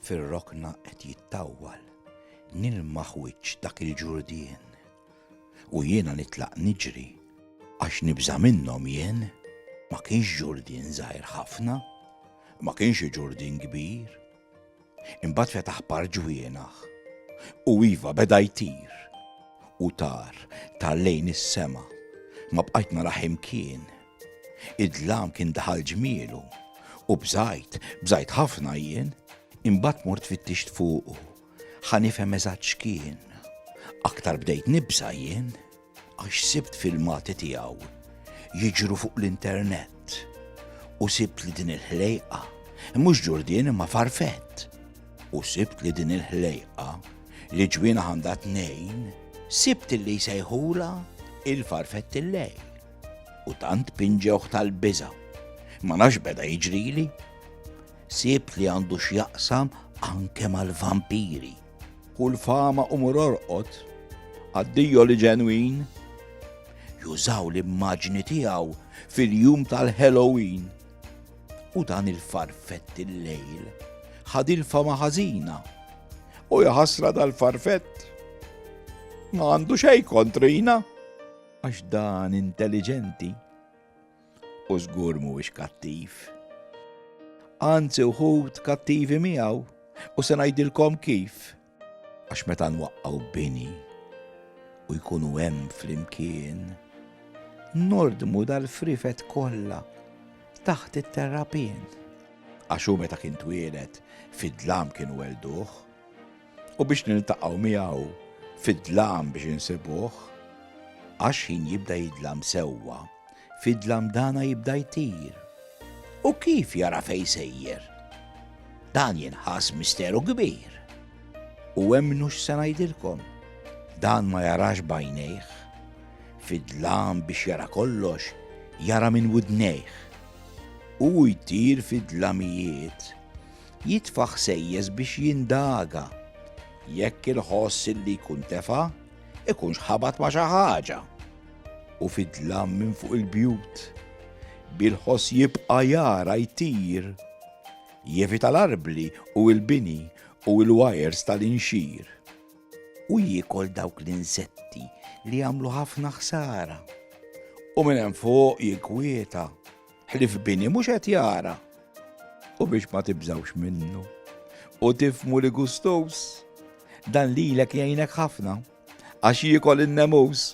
fir-rokna qed jittawwal, nilmaħ wiċċ dak il-ġurdien. U jiena nitlaq niġri, għax nibża minnhom jien, ma kienx ġurdien żgħir ħafna, ma kienx ġurdien kbir, Imbagħad fetaħ par ġwienaħ, u iva, beda jtir, u tar, tar lejn is-sema, ma bqajt narah imkien. Id-dlam kien daħal ġmielu, u bżajt, bżajt ħafna jien, imbagħad mort fittixt fuqu, ħa nifhem eżatt x'kien. Aktar bdejt nibża' jien. għax sibt filmati tiegħu jiġru fuq l-internet u sibt li din il-ħlejqa, mhux ġurdien imma farfett, u sibt li din il-ħlejqa li ġwina għandha tnejn, sibt li jsejħula il-farfett il-lej. U tant pinġewħ tal-biża. Ma nax beda jiġrili. Sibt li għandu x'jaqsam anke mal-vampiri. Hu l-fama u mur orqod għad-Dio li ġenwin. Jużaw l-immaġni tiegħu fil-jum tal-Halloween. U dan il-farfett il-lejl ħad il-fama ħażina. U jaħasra dal-farfett ma għandu xej kontrina għax dan intelligenti U żgur mhuwiex kattiv. Anzi wħud kattivi miegħu u se ngħidilkom kif. Għax meta nwaqqgħu bini u jkunu hemm flimkien, nordmu dal-frifet kollha taħt it-terrapien. Għax hu meta kien twieled fid-dlam kienu welduh. u biex niltaqgħu miegħu fid-dlam biex insibuh, għax ħin jibda jidlam sewwa, fid-dlam dana jibda jtir. U kif jara fejn sejjer? Dan jinħass misteru kbir. U emmnu x'se ngħidilkom. Dan ma jarax bajnejh. Fidlam biex jara kollox, jara minn widnejh. U jtir fid-dlamijiet Jitfa' ħsejjes biex jindaga jekk il-ħoss illi jkun tefa' jkunx ħabat ma' xi ħaġa u fidlam minn fuq il-bjut. Bil-ħoss jibqa' jara jtir. Jevita l-arbli u l-bini u l-wajers tal-inxir. U jiekol dawk l-insetti li jagħmlu ħafna ħsara. U minn hemm fuq jikkwieta. ħlif bini mhux qed jara u biex ma tibżawx minnu. U tifmu li gustus dan lilek jgħinek ħafna għax jiekol in-nemus.